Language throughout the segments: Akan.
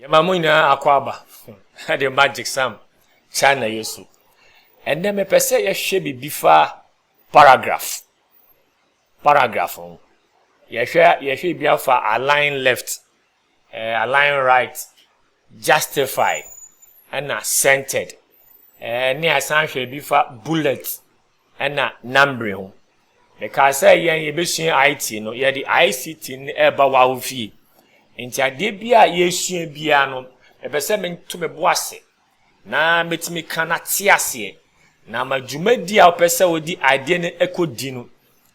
yɛma mo nyinaa akɔ aba ɛde magic sam china yɛ so ɛnɛ mepɛ sɛ yɛhwɛ biribi fa paragraph paragraph ho yɛhwɛ yɛhwɛ bi afa align left Align Right, Justify, ɛna Centered. Ɛnne a san hwɛ bi fa Bullet ɛna Numbering ho. Mekaa sɛ yɛn yɛbɛsua IT no, yɛde ICT no ɛreba wawo fie. Nti adeɛ bi a yɛresua biara no, mepɛ sɛ meto me bo ase na mɛtumi ka na te aseɛ. Na ama dwumadi a wopɛ sɛ wode adeɛ no ɛkɔdi no,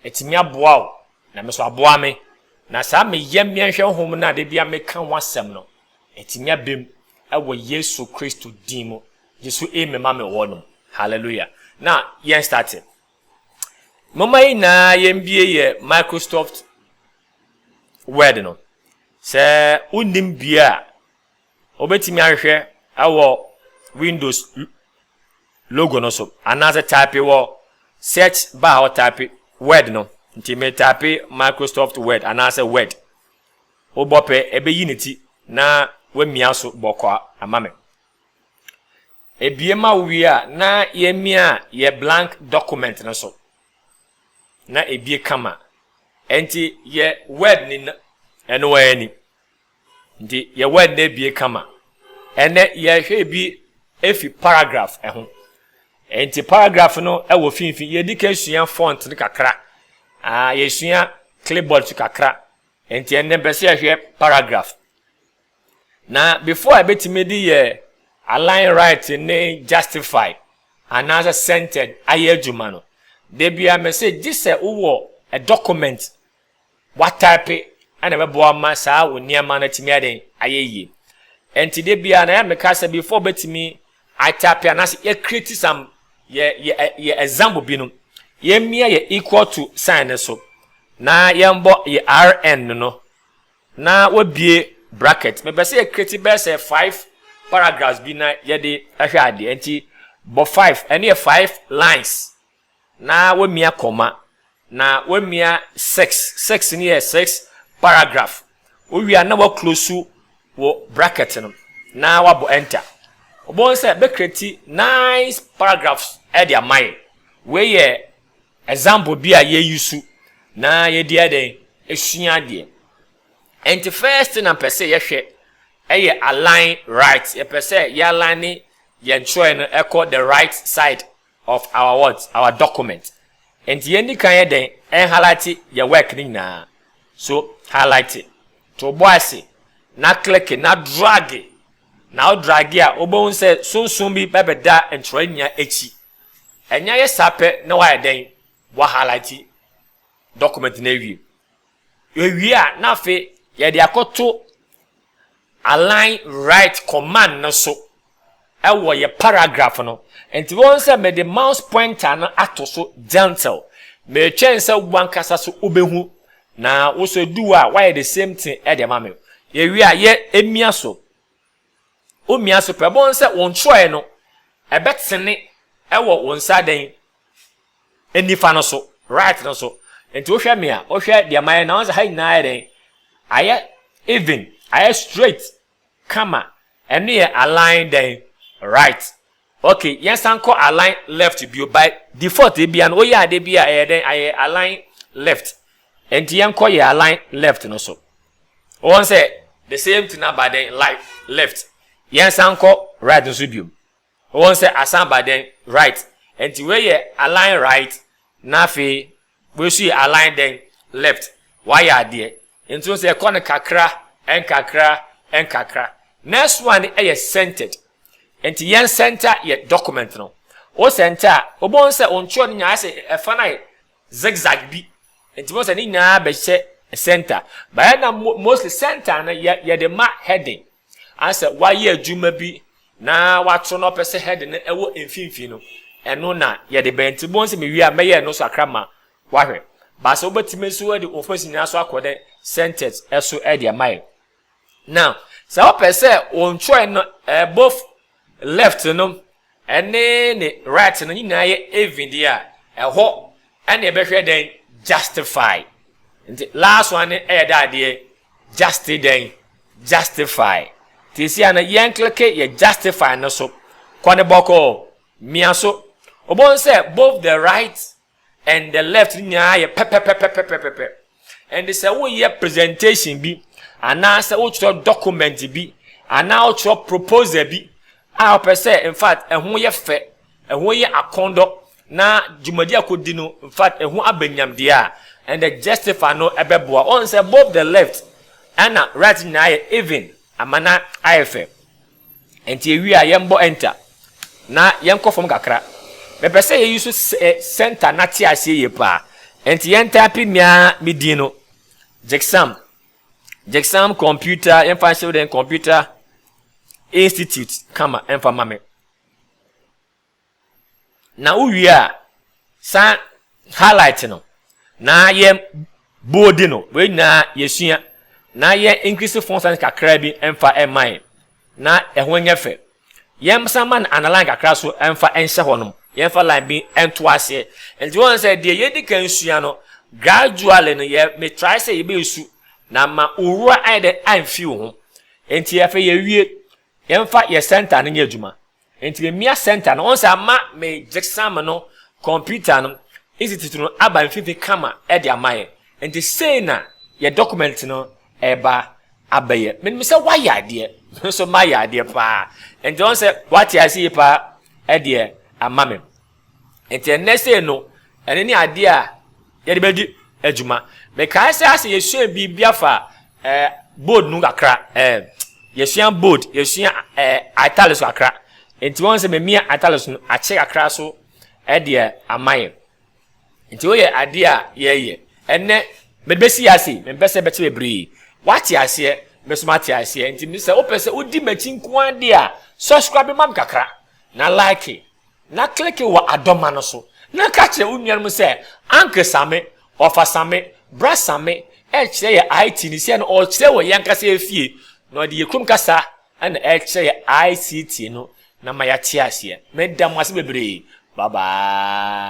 atumi aboa wo Na me so aboa me. Na saa me yam yɛnhwɛ hom no a da biara me ka ho asɛm no, etse me aba mu wɔ Yesu Kristo din mu. Gye so amen ma me hɔ nom. Hallelujah. Na yɛn starte. Momma yɛn nyinaa yɛn bie yɛ Microsoft Word no. Sɛ wonnim bie a, Wobɛtumi ahwehwɛ wɔ Windows logo no so anaasɛ type wɔ search bar hɔ type word no nti me type Microsoft Word anaasɛ word wobɔ pɛ ɛbɛyi ne ti na wamia so bɔkɔ ama me ebie ma wowie a na yɛmia yɛ blank document no so na ebie kama ɛnti yɛ word ni ɛno ani Nti yɛwɔ ɛnnɛ abie kama. Ɛnnɛ yɛrehwɛ ebi efi paragraph ho. Nti paragraph no wɔ finfin. Yɛdi kan sua font no kakra. Ah, yɛsua clipboard so kakra. Nti ɛnnɛ mpɛ sɛ yɛhwɛ paragraph. Na before a ebetumi de yɛ align right ne justify anaasɛ centered ayɛ adwuma no, da bia mɛ sɛ gye sɛ wowɔ a document wɔataipe na ɛbɛboa ma saa wo nneɛma no atumi ayɛ dɛn? Ayɛ yie. Ɛnti da biara na yɛ meka sɛ before bɛtumi ataipe anaasɛ yɛ create some yɛ yɛ yɛ example bi no yɛmmia yɛ equal to sign no so na yɛmbɔ yɛ rn no no na wɔbie bracket mepɛ sɛ yɛ create bɛyɛ sɛ five paragraphs bi na yɛde ahwɛ adeɛ nti bɔ five ɛne yɛ five lines Na wamia koma, na wamia sex, sex no yɛ sex paragraph, wowie a na wa close wo bracket no na wabɔ enter. Wobɛhu sɛ bɛ create nice paragraphs de ama yɛ. Wei yɛ example bi a yɛ use na yɛde ayɛ dɛn? Asua adeɛ. Ɛnti first thing a mpɛ sɛ yɛhwɛ ɛyɛ align right, yɛpɛ sɛ yɛ align yɛn twerɛeɛ no ɛkɔ the right side of our what? Our document. Nti yɛn di kan yɛ dɛn? Ɛn highlighte yɛ work no nyinaa. So highlighte, to bo ase, na click, na drage. Na wo drage a, wobɛhu sɛ sunsum bi bɛbɛda ntwerɛeɛ nyinaa akyi. Ɛnyɛ ayɛ saa pɛ na woayɛ dɛn? Woahighlighte document no awie. Yɛwie a, na afei yɛde akɔto Align Right command no so wɔ yɛn paragraph no. Nti woahu sɛ mede mouse pointer no ato so gentle. Meretwɛn sɛ w'ankasa so wobɛhu na wo nso ɛdu hɔ a woayɛ the same thing de ama me. Yɛwie a, yɛ mia so. Womia so pɛ, wobɛhu sɛ wo ntwerɛeɛ no ɛbɛtene wɔ wo nsa dɛn? nifa no so, right no so. Nti wohwɛ me a, wohwɛ deɛ mayɛ na ɔsɛ ha nyinaa ayɛ dɛn? Ayɛ even, ayɛ straight, kama. Ɛno yɛ align dɛn? Right. Okay, yɛnsan kɔ align left bio. By default ebia no, woyɛ adeɛ bi a ɛyɛ dɛn? Ayɛ align left. Nti yɛnkɔ yɛ align left no so. Wɔn sɛ the same thing aba dɛn? Life, left. Yɛnsan kɔ right no so bio. Wɔn sɛ asan aba dɛn? Right. Ɛnti wei yɛ align right na afei wei nso yɛ align dɛn? Left. W'ayɛ adeɛ. Nti wohu sɛ ɛkɔ no kakra, nkakra, nkakra. Next one yɛ centered. Nti yɛn center yɛ document no. Wo center a, wobɛhu sɛ wo ntwerɛ no nyinaa ayɛ sɛ ɛfa no ayɛ zigzag bi. Nti wobɛhu sɛ ne nyinaa bɛhyɛ center. But ɛna mostly center no yɛde ma heading. Ayɛ sɛ wayɛ adwuma bi na wato na ɔpɛ sɛ head no ɛwɔ mfimfini no, ɛno na yɛde bɛyɛ. Nti bohu sɛ mewie a mɛyɛ ɛno so akra ma wahwɛ. But sɛ wobɛtumi nso de wo face nyinaa so akɔ dɛ centers ɛso ɛde ama yɛ. Now, sɛ wopɛ sɛ wo ntwerɛe no ɛbɔ Left no ne ne right no nyinaa yɛ even deɛ a, ɛhɔ na yɛbɛhwɛ dɛn? Justify. Nti last one no yɛ dɛ adeɛ justi dɛn? Justify. Nti si a no yɛnkleke yɛ justify no so. Kɔ no bɔkɔɔ. Mia so. Wobɛhu sɛ both the right and the left ne nyinaa yɛ pɛpɛpɛpɛpɛpɛpɛ ɛnde sɛ woyɛ presentation bi anaasɛ wotwerɛ document bi anaa wotwerɛ proposal bi a wopɛ sɛ in fact ɛho yɛ fɛ ɛho yɛ akɔndɔ na dwumadi akɔdi no in fact ɛho abɛnyam deɛ a ɛnde justify no ɛbɛboa ɔn sɛ both the left ɛna right nyinaa yɛ even ama na ayɛ fɛ Ɛnti ɛwie a yɛnbɔ enter na yɛnkɔ fam kakra. Mepɛ sɛ yɛyi so center na te aseɛ yie paa. Ɛnti yɛn type mea me din no. Gyksam. Gyksam computer yɛmfa nhyɛ wo den computer institute kama ɛmfa ma me. Na wo wie a san highlight no na yɛ bold no, wei nyinaa yɛ sua na yɛ increase font size kakra bi mfa mma yɛn na ɛho nyɛ fɛ. Yɛn san ma no underline kakra so mfa nhyɛ hɔ nom, yɛn fa line bi nto aseɛ. Nti wɔn sɛ deɛ yɛ di kan sua no gradually no yɛ me try sɛ yɛ bɛ su na ama owura ayɛ dɛ anfi wo ho. Nti afei yɛ wie, yɛn fa yɛ center no nyɛ adwuma. Ntsi me Mia Center no, ɔnn sɛ ama me Gyeksamma no kɔmpiita no edzi tsetse no aba mfinimfin kama dze ama hɛn. Ntsi sei na yɛ dɔkɔmɛnt no reba abɛyɛ. Minyim sɛ wɔayɛ adeɛ, me so mayɛ adeɛ paa. Ntsi ɔnn sɛ wɔatse ase yie paa deɛ ama me. Nti ɛnnɛ sei no, ɛno ne adeɛ a yɛde bɛdi adwuma. Mekae sɛ asɛ yɛsua biribi afa eh, bold no kakra. Eh, yɛsua bold, yɛsua eh, italics kakra. Nti wɔn sɛ memia italics no akyɛ kakra so ɛdeɛ eh, ama yɛ. Nti woyɛ adeɛ a yɛyɛ. Ɛnnɛ, mebɛsi yɛ ase, mempɛ sɛ bɛkyɛ bebree. Wate aseɛ, mesoma ate aseɛ. Nti sɛ wopɛ sɛ wodi m'akyi nko ara deɛ a, subscribe ma me kakra, na like. Na kleke wɔ adɔma no so na ka kyerɛ wo nuanom sɛ Uncle Same, Ɔfa Same, Bra Same rekyerɛ yɛ ITni sɛ no ɔrekyerɛ wɔ y'ankasa efie na ɔde yɛ kurom kasa na ɛrekyerɛ yɛ ICT no na ma yɛate aseɛ. Meda mo ase bebree. Bye bye.